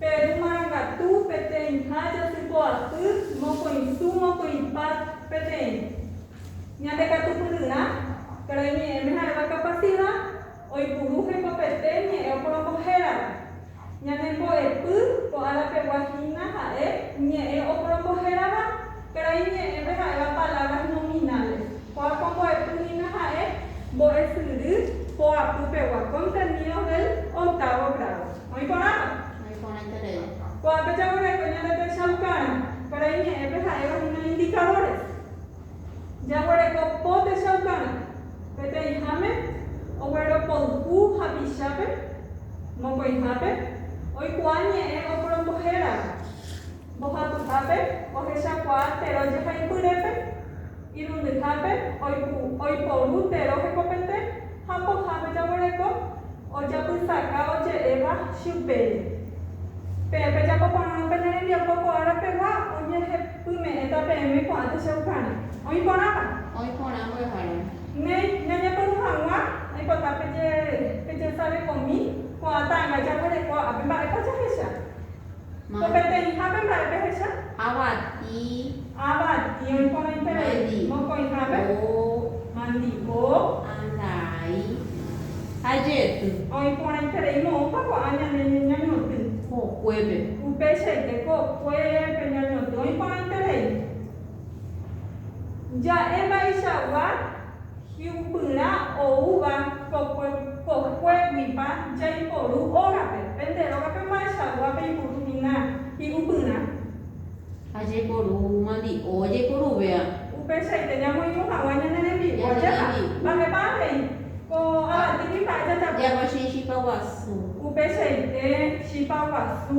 Peru marangatu peteĩha jatypo'aty mokõisu mokõipa peteĩ. Ñande katupyryrã, karai ñe'ẽme ha'éva kapasida, oipuru hekopete ñe'ẽ oporombo hérava. Ñanembo'epy ko árapegua hína ha'e ñe'ẽ oporombo hérava, Karai ñe'ẽpe ha'éva palabras nominales. Ko'ág̃a ombo'epy hína ha'e mbo'esyry poapy pegua, contenidos del octavo grado. Oĩ porãpa? Oĩ porãiterei. Ko'ápe jaguereko ñande techaukarã. Karai ñe'ẽpe ha'éva hína indicadores. Jaguereko po techaukarã. Peteĩháme ogueropoyhu hapichápe, mokõihápe, oikuaa ñe'ẽ oporombohérava. Mbohapyhápe ohechakuaa tero jehaipyrépe, irundyhápe oiporu tero hekopete ha pohãve jaguereko ojapysaka oje'éva chupére. Peẽ pejapo porãrõ pene rembiapo ko ára pegua oñehepyme'ẽta peẽme ko'ã techaukarã. Oĩ porãpa? Oĩ porã mbo'eharáme. Néi, ñañepyrũ hag̃ua aipota pejesarekomi ko'ã ta'ãnga jaguereko ápe. Mba'épa jahecha? Ko peteĩhápe mba'e pehecha? Avati. Avati oiporãiterei. Mokõihápe? Mandi'o. Andai. Ajety. Oĩporãiterei moõpa ko'ã ñane ñañotỹ. Kokuépe. Upeichaite kokuépe ñañotỹ oĩporãiterei. Ja'e mba'eichagua. Hi'upyrã oúva kokue kokuéguipa jaiporu ógape. Pende rógape mba'eichagua peipuru hína hi'upyrã. Ha jaiporu mandi'o jaiporuvéva. Upeichaite ñamoirũ hag̃ua ñane rembi'u. Ajépa. Mba'épa avei ko avati kuimba'e jajapo. Java che chipa guasu. Upeichaite chipa guasu.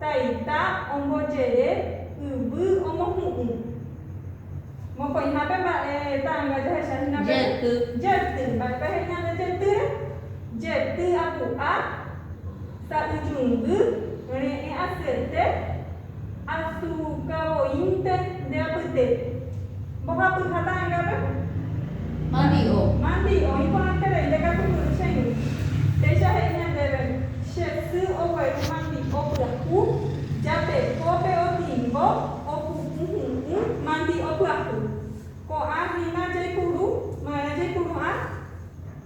Taita ombojere yvy omohu'ũ. Mokõihápe mba'e ta'ãnga jahecha hína pe. Jety. Jety. Mba'épa he'i ñande jetýre? Jety apu'a, sa'yjungy, reẽ asyete, asu kavoínte nde apytépe. Mbohapy ha ta'ãngápe. Mandi'o. Mandi, oĩ porãiterei ndekatupyry che yvy. Péicha he'i ñandéve, Che sy ogueru mandi'o pyahu, japekópe otingo, opu'ũ hu'ũ, mandi'o pyahu. Ko'ã hína jaipuru, marã jaipuru'ã.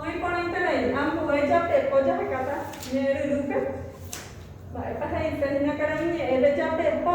Oĩporãiterei ambue japepo jahekáta ñe'ẽ ryrýpe. Mba'épa he'ise hína karai ñe'ẽve japepo?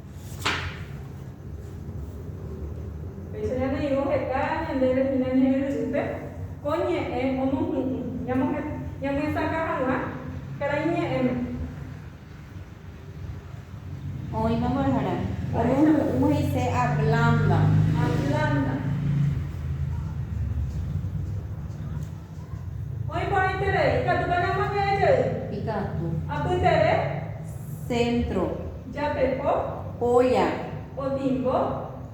Péicha ñaneirũ heta ñandéve hína ñe'ẽry'ýpe, ko ñe'ẽ omohu'ũ ñamyesakã hag̃ua karai ñe'ẽme. Oĩma mborahara. Omohu'ũ he'ise ablanda. Ablanda. Oĩporãiterei. Ikatu pene omoñe'ẽ jey. Ikatu. Apytere. Centro. Japepo. Olla. Otimbo.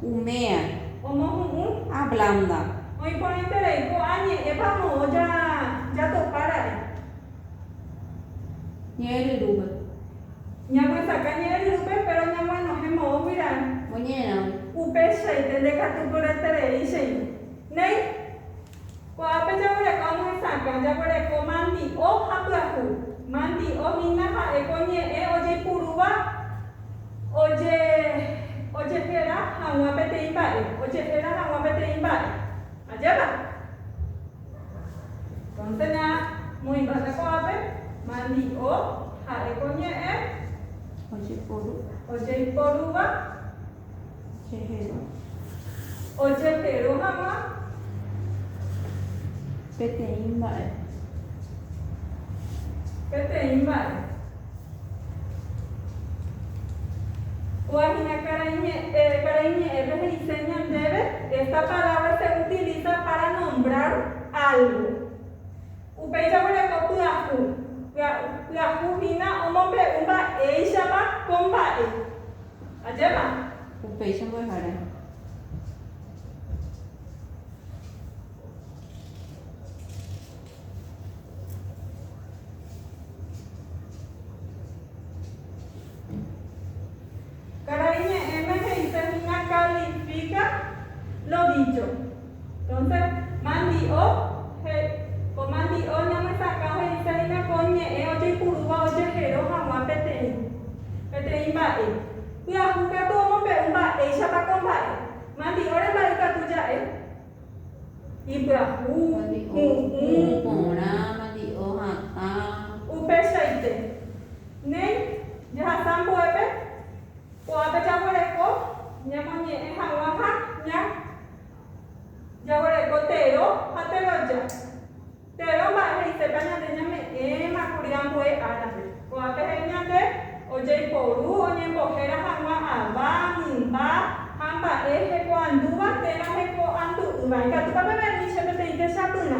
Umea. Omohu'ũ. Ablanda. Oĩporãiterei. Ko'ã ñe'ẽpa moõ jatopa ra'e. Ñe'ẽryrúpe. Ñamyesakã ñe'ẽryrúpe péro ñaguenohẽ moõgui ra'e. Oñe'ẽrãgui. Upeichaite ndekatupyretereíchendi. Néi. Ko'ápe jaguereko añehesakã, jaguereko mandi'o ha pyahu. Mandi'o hína ha'e ko ñe'ẽ ojeipurúva oje, ojehéra hag̃ua peteĩ mba'e, ojehéra hag̃ua peteĩ mba'e. Ajépa? Entonce ñamoĩmbáta ko'ápe, mandi'o ha'e ko ñe'ẽ ojeipurúva. Chejeru. Ojeperu hag̃ua peteĩ mba'e. Peteĩ mba'e. Kua hína karai ñe'ẽ, karai ñe'ẽpe he'ise ñandéve, esta palabra se utiliza para nombrar algo. Upéicha guereko pyahu. Pyahu hína omombe'u mba'éichapa ko mba'e. Ajépa. Upéicha mbo'ehára. Karai ñe'ẽme he'ise hína kalifika lo dícho. Entonces, mandi'o, he'i. Ko mandi'o ñamyesakã he'ise hína ko ñe'ẽ ojeipurúva ojehero hag̃ua peteĩ, peteĩ mba'e. Pyahu katu omombe'u mba'éichapa ko mba'e. Mandi'o remba'e katu ja'e. Ipyahu, hu'ũ. Porã, mandi'o hatã. Upeichaite. Néi, jahasa ambuépe, ko'ápe jaguereko ñamoñe'ẽ hag̃ua ha ña. Jaguereko tero ha teroja. Tero mba'e he'isépa ñande ñame'ẽma kuri ambue árape. Ko'ápe he'i ñande ojeiporu oñembohéra hag̃ua ava, mymba ha mba'e hekoandúva térã hekoandu'ỹva. Ikatúpa peve'ỹicha peteĩ techapyrã.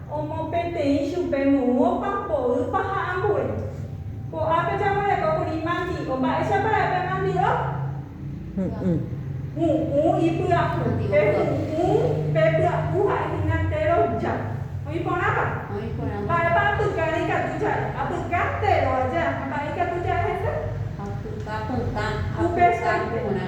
Omopeteĩ chupe moõpa, mboýpa ha ambue. Ko'ápe jaguereko kuri mandi'o. Mba'éichapa ra'e pe mandi'o? Hu'ũ. Hu'ũ ipya'u. Pe hu'ũ, pe pya'u ha'e hína téro ja. Oĩ porãpa? Oĩ porã. Mba'épa apyka reikatu ja'e? Apyka téro aja. Ha mba'e ikatu ja'e heta? Apyka pytã, apyka porã.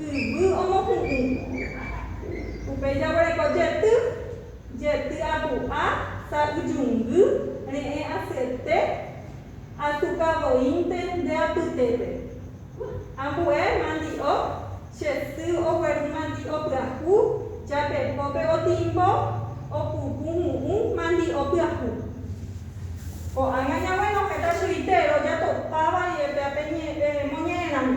yvy omohu'ũ. Upéi jaguereko jety, jety apu'a, sa'yjungy, re'ẽ asyete, azuka voínte nde apytépe. Ambue mandi'o, che sy ogueru mandi'o pyahu, japepópe otimbo, opupu mu'ũ mandi'o pyahu. Ko'ág̃a ñaguenohẽta chuguitéro jatopáva rire pe ape ñe'ẽ moñe'ẽramo.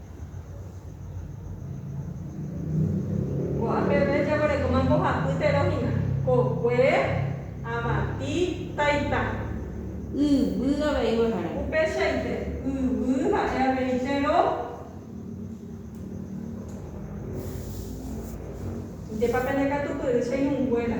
Ko'ã peve jaguerekóma mbohapy tero hína, kokue, avati, taita. Yvy avei mbo'ehára. Upeichaite, yvy ha'e avei tero. Ndépa pene katupyry che ñunguéra.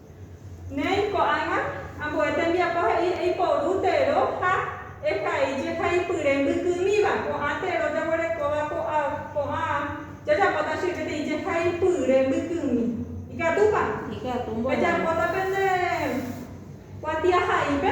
Néi ko'ág̃a, ambue tembiapo he'i eiporu tero ha ehai jehaipyre mbykymíva. Ko'ã tero jaguerekóva ko'ã jajapóta che peteĩ jehaipyre mbykymi. Ikatúpa? Ikatu mborayhu. Ejapóta pende kuatiahaípe.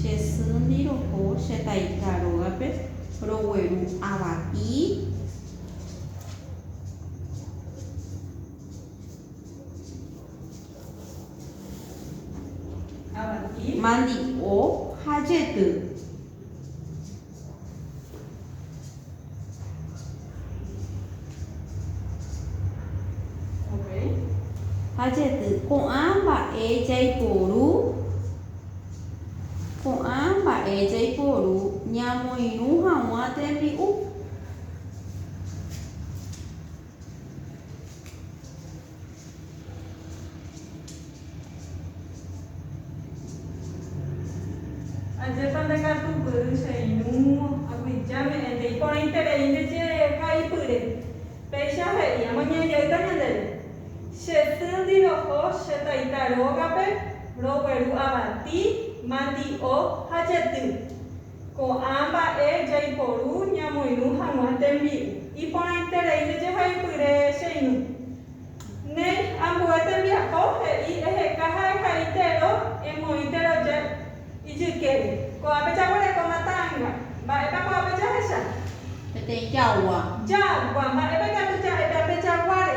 Che sýndi roho che taita rógape rogueru ava'i mandi'o ha jety. Ha jety, ko'ã mba'e jaiporu, ko'ã mba'e jaiporu ñamoirũ haguã tembi'u. Ajépa ndakatupyry che irũ aguija me'ẽnte iporãiterei nde che ka'ipyre. Péicha he'i, Amaña jeýta ñandéve. Che týndi roho che taita rógape, rogueru avati, mandi'o ha jety. Ko'ã mba'e jaiporu ñamoirũ hag̃ua tembi'u. Iporãiterei jejehaipyre cheirũ. Néi, ambue tembiapo he'i eheka ha ehai tero emoĩ teroja ijykére. Ko'ápe jaguerekóma ta'anga. Mba'épa ko'ápe jahecha? Peteĩ jagua. Jagua. Mba'épa ikatu ja'e pe ape jaguáre?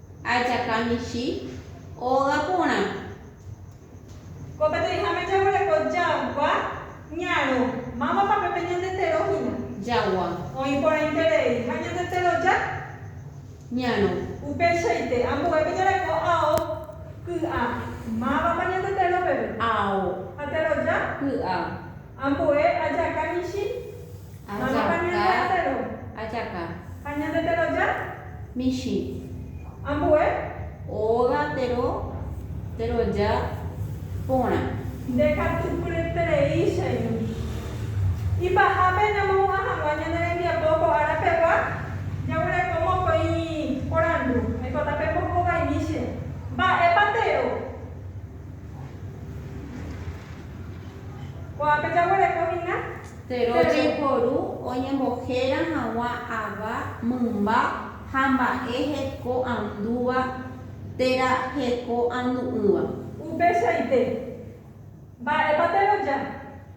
Ajaka michĩ óga porã. Ko peteĩháme jaguereko jagua ñarõ. Mávapa pe pe ñande tero hína. Jagua. Oĩ porãiterei ha ñande teroja. Ñarõ. Upeichaite, ambue pe jareko ao ky'a. Mávapa ñande tero peve. Ao. Ha teroja. Ky'a. Ambue ajaka michĩ. Mávapa ñande atéro. Ajaka. Ha ñande teroja. Michĩ. Ambue. Óga tero, teroja porã. Nde katu pyreterei cheñu. Ipahápe ñamohu'ã hag̃ua ñane rembiapo ko ára pegua, jaguereko mokõi porandu. Aikóta pembohovaimi che. Mba'épa tero. Ko'ápe jaguereko hína Tero jeporu oñembohéra hag̃ua ava mymba ha mba'e heko'andúva térã heko'andu'ỹva. Upeichaite, mba'épa Tero ja?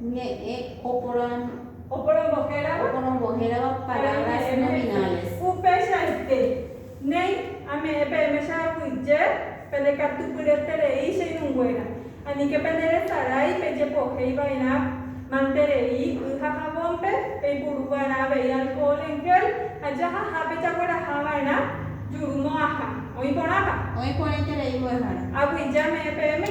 Ñe'ẽ oporongohérava palabras nominales. Upeichaite, néi, ame'ẽ peẽme che aguyje, pendekatupyreterei che irũnguéra. Aníke penderesarái pejepohéi va'erã manterei y ha javónpe, peipuru va'erã avei alcohol en gel ha jahaha pejagueraha va'erã juru mo'ãha. Oĩ porãpa? Oĩ porãiterei mbo'ehára. Aguyje ame'ẽ peẽme.